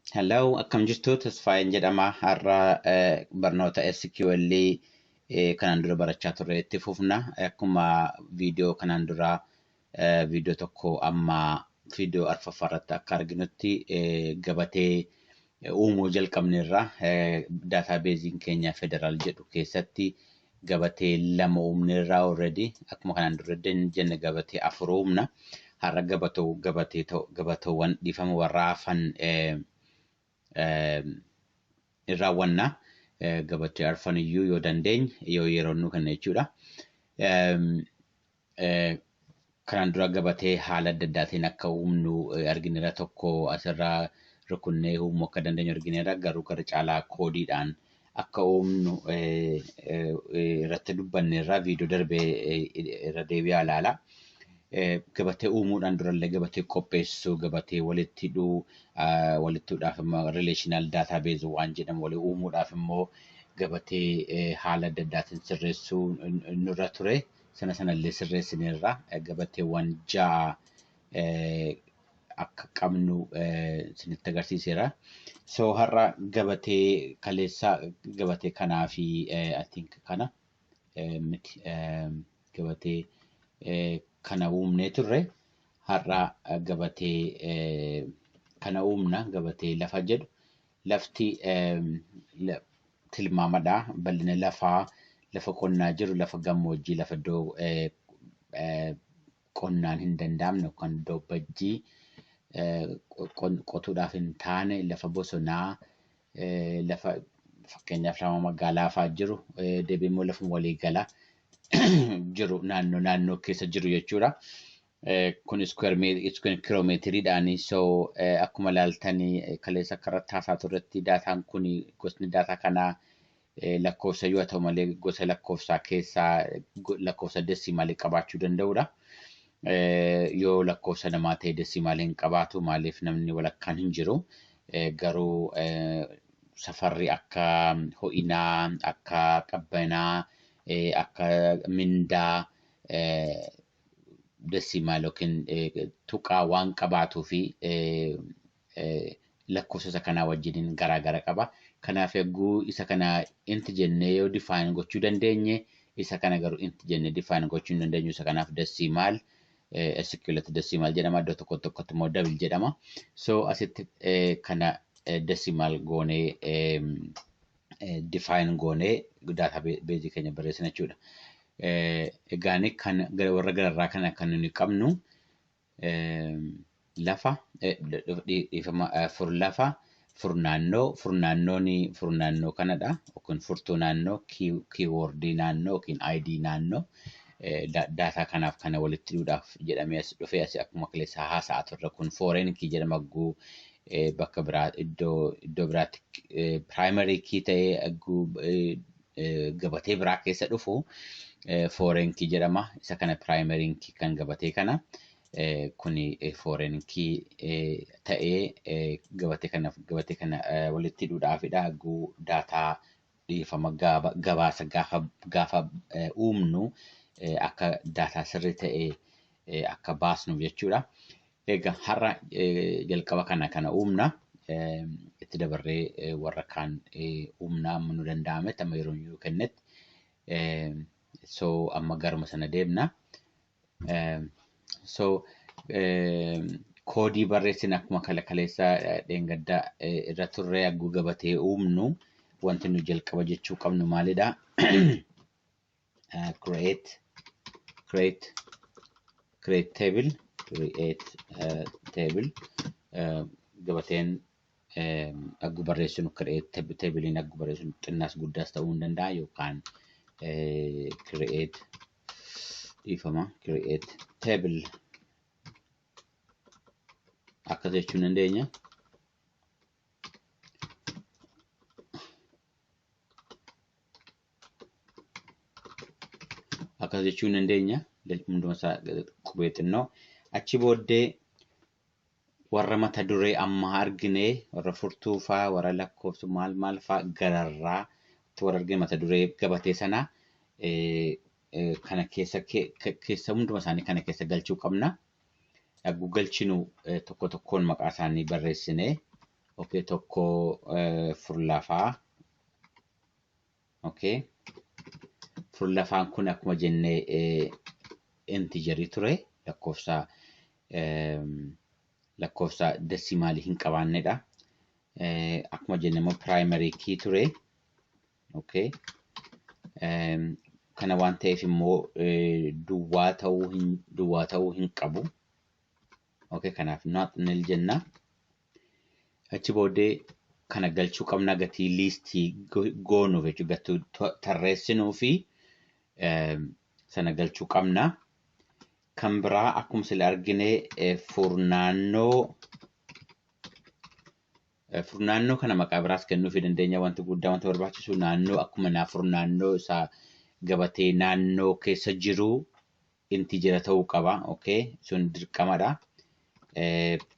Hello, akkam jirtu? Tasfaayeen jedhama. Har'a eh, barnoota SQL eh, kanaan dura barachaa turre itti fufna. Akkuma viidiyoo kanaan dura eh, viidiyoo tokko amma viidiyoo arfaffaa irratti akka arginutti eh, gabatee eh, uumuu jalqabneerra. Eh, Daataabeeziin keenya federaal jedhu keessatti gabatee lama uumne irraa already akkuma kanaan dura jenne gabatee afur uumna. Har'a gabatoo gabatee ta'u- gabatoowwan dhiifama warra hafan eh, eh, in raawwanna. Eh, Gabatee arfan iyyuu yoo dandeenye yoo yeroo nu kenna jechuudha. Em, Kanaan dura gabatee haala adda addaatiin akka uumnu argineera tokko asirra rukunnee uumuu akka dandeenyu argineera garuu gara caalaa koodiidhaan akka uumnu irratti dubbanneerra viidiyoo darbee irra deebi'aa ilaala. Gabatee uumuudhaan durallee gabatee qopheessuu, gabatee walitti hidhuu, walitti hidhuudhaaf immoo relational database waan jedhamu walii uumuudhaaf immoo gabatee haala adda addaatiin sirreessuu nurra ture. sana sanallee sirreessineerra gabatteewwan ja'a akka qabnu isinitti agarsiiseera. So har'a gabatee kaleessa gabatee kanaa fi I think kana miti gabatee kana uumnee turre har'a gabatee kana uumna gabatee lafa jedhu Lafti tilmaamadha. Bal'ina lafaa, lafa qonnaa jiru, lafa gammoojjii, lafa iddoo qonnaan hin danda'amne yookaan iddoo bajjii qotuudhaaf hin taane, lafa bosonaa, lafa fakkeenyaaf lafa magaalaa fa'aa jiru, deebi'ee immoo lafuma waliigala jiru naannoo naannoo keessa jiru jechuudha. kun iskuweer kiloomeetiriidhaani. So akkuma ilaaltan kaleessa akka irratti haasaa turretti daataan kun gosni daataa kanaa lakkoofsa yoo ta'u malee gosa lakkoofsaa keessaa lakkoofsa desimaalii qabaachuu danda'udha. Yoo lakkoofsa namaa ta'e desimaalii hin qabaatu maaliif namni walakkaan hin jiru. Garuu safarri akka ho'inaa, akka qabbanaa, akka mindaa desimaal yookiin tuqaa waan qabaatuu fi lakkoofsa isa kanaa wajjiniin garaa gara qaba. Kanaaf yagguu isa kana int jennee yoo define gochuu dandeenye isa kana garuu int jennee define gochuu hin dandeenyu isa kanaaf desimaal SQLtti desimaal jedhama iddoo tokko tokkotti immoo double jedhama. So asitti kana desimaal goonee define goonee database keenya barreessina jechuudha. Egaa inni kan warra gararraa kana kan nuyi qabnu lafa dhiifama fur lafa fur naannoo fur naannoon fur naannoo kanadha yookiin furtuu naannoo kiiwoordii naannoo yookiin aayidii naannoo daataa kanaaf kana walitti hidhuudhaaf jedhamee as dhufee asi akkuma kaleessaa haasa'aa turre kun fooreen kii jedhama guu eh, bakka biraa iddoo iddoo biraatti eh, primary key ta'ee agguu eh, eh, gabatee biraa keessa dhufu eh, foreign key jedhama. Isa kana primary key kan gabatee kana eh, kuni eh, foreign key eh, ta'ee eh, gabatee kana gabatee kana eh, walitti hidhuudhaafidha agguu daataa dhiifama gaaba gabaasa gaafa gaafa eh, uumnu eh, akka daataa sirrii ta'e eh, akka baasnuuf jechuudha. Egaa har'a eh, jalqaba kana kana uumna. Eh, Itti dabarree eh, warra kaan eh, uumna amma nu danda'ametti amma yeroo nuu kennetti. Eh, So amma garuma sana deemna. Um, so um, koodii barreessin akkuma kala kaleessaa eh, dheengaddaa eh, irra turree hagguu gabatee uumnu wanti nu jalqaba jechuu qabnu maalidha? Eh, create create create table create eh, table eh, gabateen eh, hagguu barreessinu create tab- tabliin hagguu barreessinu xinnaas guddaas ta'uu hin danda'a yookaan eh, create dhiifama create table akkas jechuu dandeenya. Akkas jechuu dandeenya. Hunduma isaa qubee xinnoo achi booddee Warra mata duree ammaa argine warra furtuu faa warra lakkooftu maal maal faa gararraa itti warra argine mata duree gabatee sana kana keessa keessa hunduma isaanii kana keessa galchuu qabna. Dhagguu galchinu tokko tokkoon maqaa isaanii barreessine okay tokko furlafaa Okay. Furlafaan kun akkuma jenne intijerii ture lakkoofsa lakkoofsa desimaalii hin qabaannedha. Akkuma jenne immoo piraayimarii kii ture. Okay. Kana waan ta'eef immoo duwwaa ta'uu hin duwwaa ta'uu hin qabu. Okay. Kanaaf not nil jenna. Achi booddee kana galchuu qabna gatii liistii goonuuf jechuudha. Gatii tarreessinuu fi sana galchuu qabna. Kan biraa akkuma sila argine furnaannoo furnaannoo kana maqaa biraas kennuufii dandeenya wanti guddaa wanti barbaachisu naannoo akkuma naa furnaannoo isaa gabatee naannoo keessa jiru intijera ta'uu qaba okay sun dirqamadha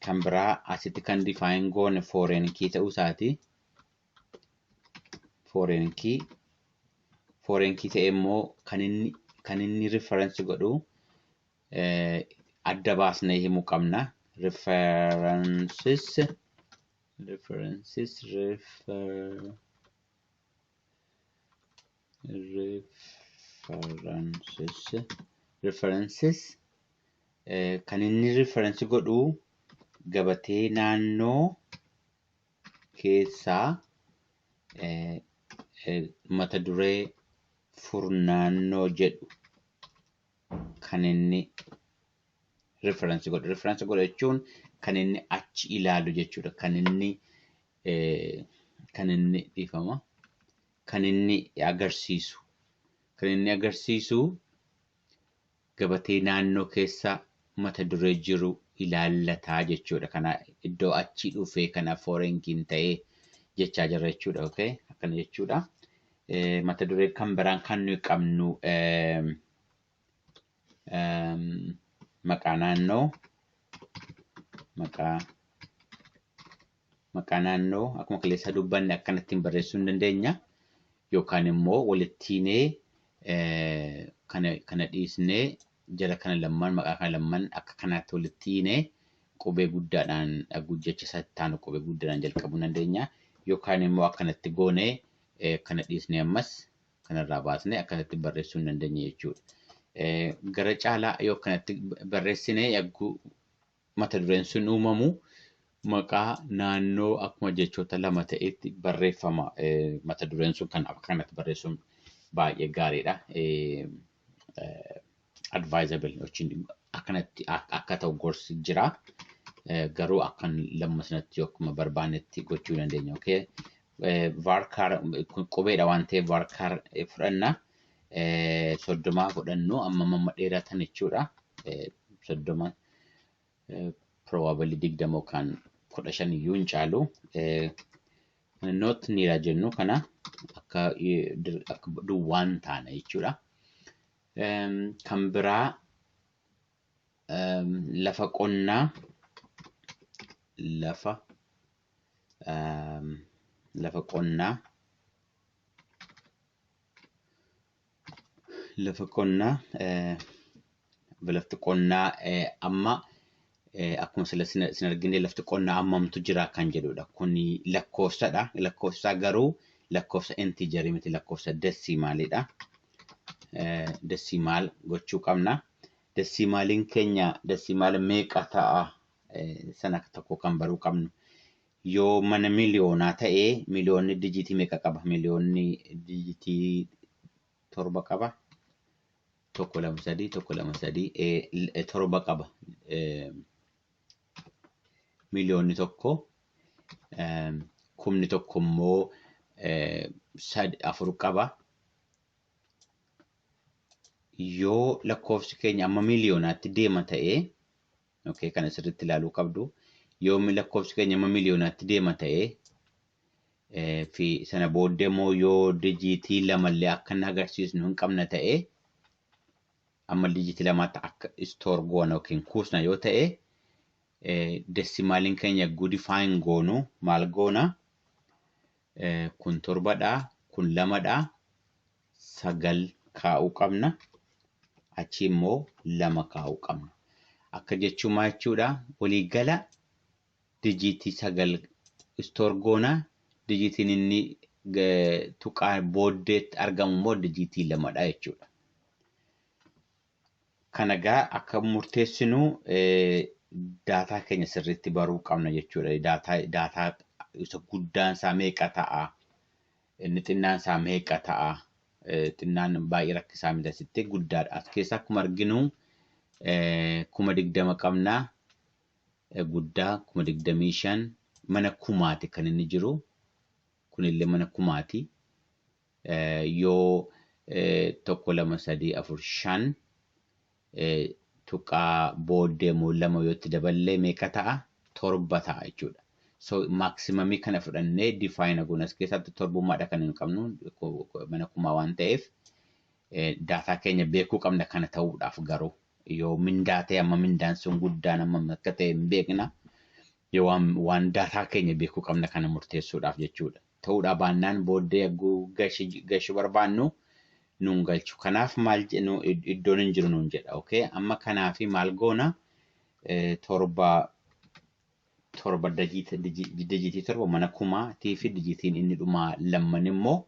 kan biraa asitti kan define goone foreign key ta'uu isaati foreign key foreign key ta'e immoo kan inni kan inni reference godhu adda baasnee himuu qabna references references refer References kan inni referensi godhu gabatee naannoo keessaa mata duree furnaannoo jedhu kan inni referensi godhu. Referensi godha jechuun kan inni achi ilaalu jechuudha. Kan inni kan inni dhiifama. kan inni agarsiisu kan inni agarsiisu gabatee naannoo keessa mata duree jiru ilaallataa jechuudha. Kana iddoo achii dhufee kana foorenkiin ta'ee jechaa jirra jechuudha. Okay? Akkana jechuudha. Eh, Mata duree kan biraan kan nuyi qabnu eh, em, maqaa naannoo maqaa Maqaa naannoo akkuma kaleessaa dubbanne akkanattiin barreessuu hin dandeenya. Yookaan immoo walittiinee kana kana dhiisnee jara kana lamman maqaa kana lamman akka kanaatti walitti hiinee qubee guddaadhaan jecha isaa itti aanu qubee guddaadhaan jalqabuu hin dandeenya. Yookaan immoo akkanatti goonee kana dhiisnee ammas kanarraa baasnee akkanatti barreessuu hin dandeenya jechuudha. Gara caalaa yoo akkanatti barreessine yagguu mata dureen sun uumamu maqaa naannoo akkuma jechoota lama ta'etti barreeffama. Mata dureen sun kan akka kanatti barreessuun baay'ee gaariidha. Advisable jechuun akkanatti akka ta'u gorsi jira. Garuu akkan lamma sanatti yookiin barbaannetti gochuu dandeenya. Varchar qubeedha waan ta'eef varchar fudhanna. Soddomaa fudhannu amma amma dheeratan jechuudha. Soddoma probably digdama yookaan kudha shan iyyuu hin caalu. Not niira jennu kana akka duwwaan taana jechuudha. Kan biraa lafa qonnaa lafa lafa qonnaa lafa qonnaa lafti qonnaa amma akkuma sila sin argine lafti qonnaa ammamtu jira kan jedhudha. Kun lakkoofsadha. Lakkoofsaa garuu lakkoofsa inteejarii miti lakkoofsa desiimaalidha. Desiimaal gochuu qabna. Dasiimaaliin keenya dasiimaala meeqa ta'a sana akka tokko kan baruu qabnu. Yoo mana miliyoonaa ta'e miliyoonni dijiitii meeqa qaba? Miliyoonni dijiitii torba qaba. Tokko lama sadii tokko lama sadii eh, torba qaba. Eh, miliyoonni tokko eh, kumni tokko immoo eh, sad afur qaba. yoo lakkoofsi keenya amma miiliyoonaatti deema ta'e okay, kana sirriitti ilaaluu qabdu yoo lakkoofsi keenya amma miiliyoonaatti deema ta'e eh, fi sana booddee immoo yoo dijiitii lamallee akka hin agarsiisnu hin qabna ta'e amma dijiitii lamaatti akka istoor goona yookiin kuusna yoo ta'e eh, desimaaliin keenya gudifaayin goonu maal goona Eh, kun torbadha kun lamadha 9 kaa'uu qabna. Achii immoo 2 kaa'uu qabna. Akka jechuun maa jechuudha? Walii gala dijiitii 9 istoor goona. Dijiitiin inni tuqaa booddeetti argamu immoo dijiitii 2 dha jechuudha. Kana gaa akka murteessinu daataa keenya sirriitti baruu qabna jechuudha. Daataa isa guddaan isaa meeqa ta'a? Inni xinnaan isaa meeqa ta'a? Xinnaan baay'ee rakkisaa miti asitti guddaadha. As keessa akkuma arginu kuma digdama qabna. Guddaa kuma digdamii shan mana kumaati kan inni jiru. Kunillee mana kumaati. Yoo tokko lama sadii afur shan tuqaa booddee immoo lama yoo itti daballee meeqa ta'a? torba ta'a jechuudha. So maximum kana fudhannee define goona as keessatti torbummaadha kan hin qabnu mana kumaa waan ta'eef daataa keenya beekuu qabna kana ta'uudhaaf garuu yoo mindaa ta'e amma mindaan sun guddaan amma akka ta'e hin beekna yoo waan daataa keenya beekuu qabna kana murteessuudhaaf jechuudha. ta'uudhaa baannaan booddee yagguu gashi gashu barbaannu nuun galchu kanaaf maal je- nu id- iddoon hin jiru nuun jedha okay amma kanaafi maal goona Eh, torba torba dajiita- diji- dijiitii torba mana kumaatii fi dijiitiin inni dhumaa lamman immoo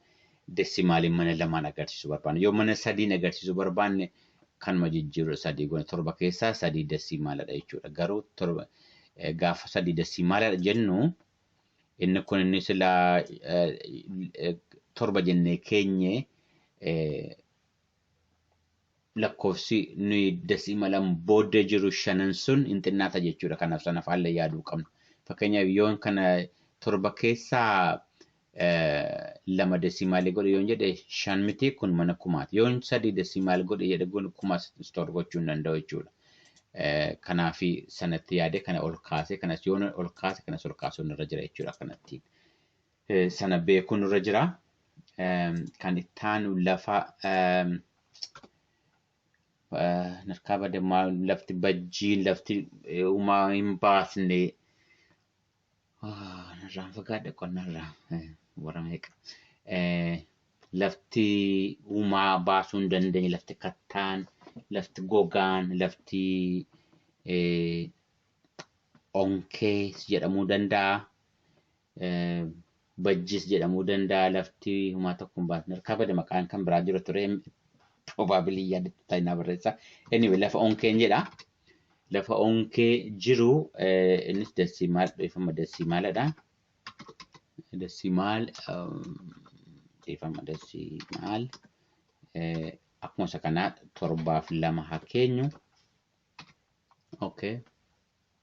desimaaliin mana lamaan agarsiisuu barbaanne yoo mana sadiin agarsiisuu barbaanne kanuma jijjiirudha sadii goona torba keessaa sadii desimaaladha jechuudha garuu torba eh, gaafa sadii desimaaladha jennu Inni kun inni silaa torba jennee keenye lakkoofsi nuyi dasiimalan booda jiru shanan sun hin xinnaata jechuudha. Kanaaf sana faalla yaaduu qabna. Fakkeenyaaf yoon kana torba keessaa lama dasiimaalii godhe yoon jedhe shan miti kun mana kumaati. Yoon sadii dasiimaal godhe jedhe kun kuma store gochuu hin danda'u jechuudha. Kanaaf sanatti yaadee kana ol kaasee kanas yoo ol kaase kanas ol kaasuun irra jira jechuudha kanattiin. Sana beekuun irra jira. Kan itti aanu lafa narkaa badammaa lafti bajjiin lafti uumaa hin baasne Narraan fagaadha qonnarraa warra meeqa. Lafti uumaa baasuu hin dandeenye, lafti kattaan, lafti gogaan, lafti onkee jedhamuu danda'a. Bajjiis jedhamuu danda'a lafti humaa tokko hin baasne harkaa bada maqaan kan biraa jira ture probably yaadattu taa'inaa barreessa. Anyway lafa onkeen jedha. Lafa onkee jiru eh, innis dasimaal dhiifama dasimaaladha. Dasimaal dhiifama dasimaal eh, akkuma isa kanaa torbaaf lama haa keenyu. Okay.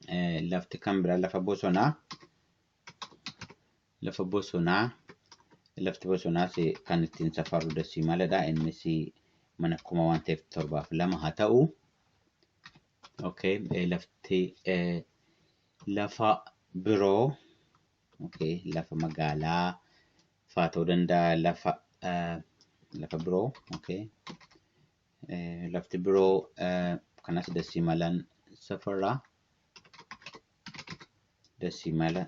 Eh, lafti kan biraa lafa bosonaa. lafa bosonaa lafti bosonaas kan ittiin safarru dasii maladha innis mana kuma waan ta'eef torbaaf lama haa ta'u okay lafti lafa biroo okay lafa magaalaa faa ta'uu danda'a lafa lafa biroo okay lafti biroo kanas dasii malan safarraa desimala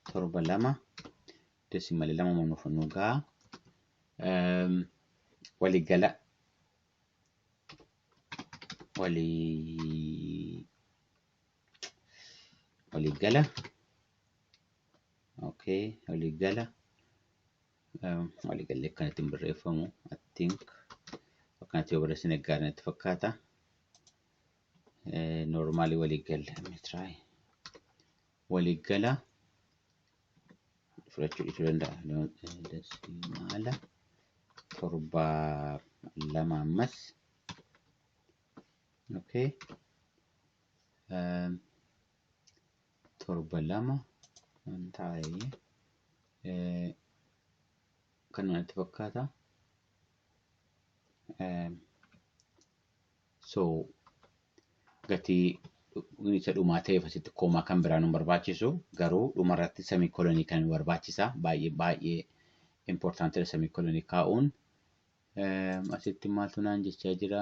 torba lama desimala lama nuuf nu ga'a. Waliigala walii waliigala okay waliigala waliigalli akkanatti hin barreeffamu I think akkanatti yoo barreessine gaarii natti fakkaata. Normaalii waliiggala meetiraa waliiggala fudhachuu dhiisuu danda'a. Dasimaala torba lama ammas. Okay. Torba lama waan taa'ee kan natti fakkaata. So gatii isa dhumaa ta'eef asitti koomaa kan biraa nu barbaachisu garuu dhuma irratti samii kolonii kan nu barbaachisa baay'ee baay'ee importantidha samii kolonii kaa'uun. Asitti maaltu naan jechaa jira?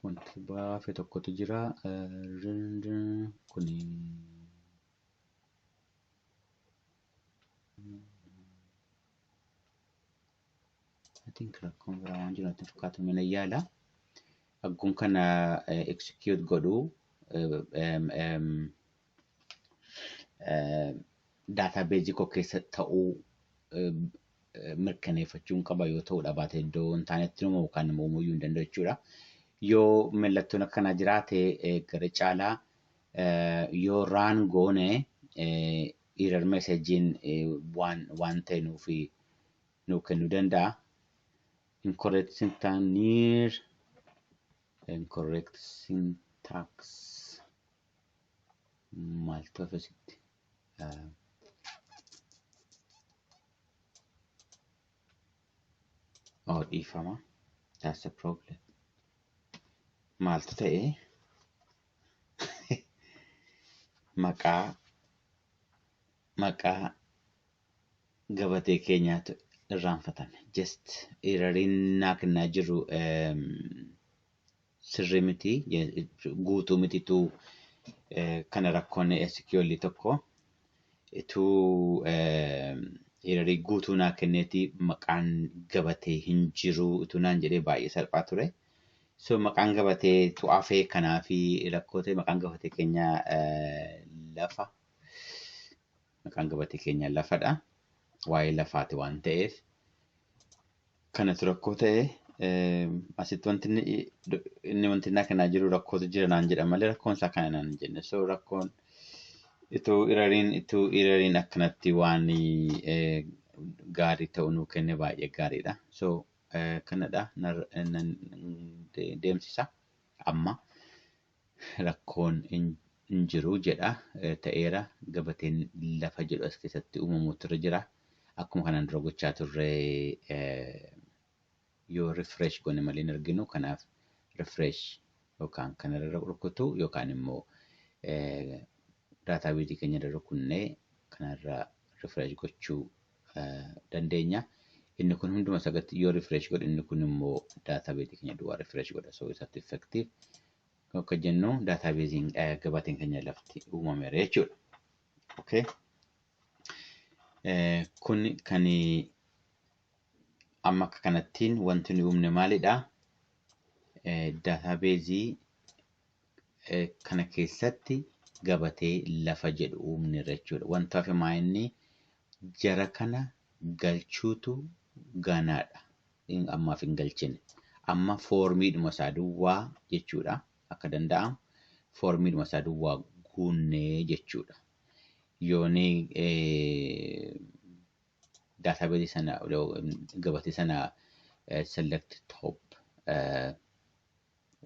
Wanti baafe tokkotu jira. Kuni I think rakkoon biraa waan jiru natti fakkaatu mina yaala. Agguun kana eh, execute godhu eh, em, em, eh, daataabeezii koo keessa ta'uu eh, eh, mirkaneeffachuun qaba yoo ta'uu dhabaate iddoo hin taanetti nama yookaan nama uumuu iyyuu hin danda'u jechuudha. Yoo mallattoon akkanaa jiraate eh, gara caalaa eh, yoo raan goone eh, Error message'n waan waan ta'e nuuf nuu kennuu danda'a. Incorrect syntax near incorrect syntax maal ta'e asitti? Oh dhiifama. That's a problem. Maaltu ta'e? maqaa maqaa gabatee keenyaatu irraanfatame. Just erariin naa kennaa jiru ehm, sirrii miti je- guutuu mititu eh, kana rakkoon SQL tokko ituu ehm, erarii guutuu naa kenneeti maqaan gabatee hin jiru ituu naan jedhee baay'ee salphaa ture. So maqaan gabatee tu afee kanaafi rakkoo ta'e maqaan gabatee keenya lafa maqaan gabatee keenya lafadha waa'ee lafaati waan ta'eef kanatu rakkoo ta'e asitti wanti inni wanti naa kanaa jiru rakkootu jira naan jedha malee rakkoon isaa kana naan jenne so rakkoon ituu irariin ituu irariin akkanatti waan gaarii ta'u nuu kenne baay'ee gaariidha so kanadha nan deemsisa amma rakkoon hin jiru jedha ta'eera gabateen lafa jedhu as keessatti uumamuutu irra jira akkuma kanaan dura gochaa turre yoo refresh goone malee hin arginu kanaaf refresh yookaan kanarra rukutu yookaan immoo daataabeezii keenya irra rukunnee kanarra refresh gochuu dandeenya. Inni kun hunduma sagatti yoo refresh godhe inni kun immoo database keenya duwwaa refresh godha. So isatti effective akka jennu database gabateen keenya lafti uumameera jechuudha. Okay. Kun kan amma akka kanattiin wanti nu uumne maalidha? Database kana keessatti gabatee lafa jedhu uumneerra jechuudha. Wanta hafe maa inni jara kana galchuutu ganaadha. In- Ammaaf hin galchine. Amma foormiidhuma isaa duwwaa jechuudha. Akka danda'amu foormiidhuma isaa duwwaa guunnee jechuudha. Yooni daatabeezii sana gabatee sana eh, select top eh,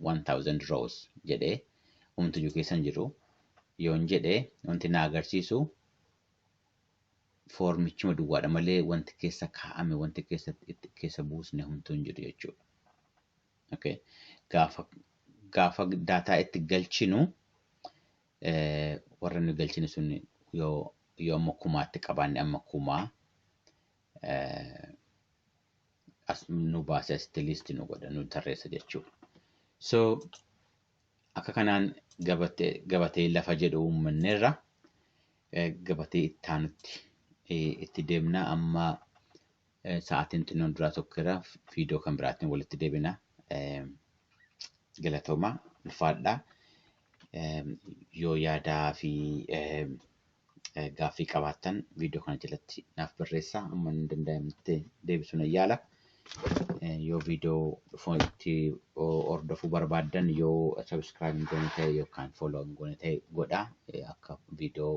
1000 rows jedhe umtuyyuu keessa hin jiru yoon jedhe wanti na agarsiisu foormichuma duwwaadha malee wanti keessa kaa'ame wanti keessa itti keessa buusne humtuu hin jiru jechuudha. Okay. Gaafa gaafa daataa itti galchinu eh, warra nu galchine sun yoo yoo amma kumaatti qabaanne amma kumaa eh, as nu baase asitti liisti nu godha nu tarreessa jechuudha. So akka kanaan gabatee gabatee lafa jedhu uummanneerra Eh, gabatee itti aanutti eh, itti deemna amma eh, sa'aatiin xinnoon duraa tokkeera viidiyoo kan biraatiin walitti deebina. Eh, Galatoomaa ulfaadhaa. Yoo yaadaa fi gaaffii qabaattan viidiyoo kana jalatti naaf barreessaa amma hin danda'amnetti deebisuu nan yaala. Yoo viidiyoo dhufu itti hordofuu barbaaddan yoo sabiskiraayib hin goone ta'e yookaan fooloo hin goone ta'e godhaa akka viidiyoo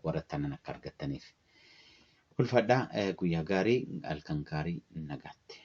warra tanan akka argattaniif. Ulfadhaa guyyaa gaarii halkan gaarii nagaatti.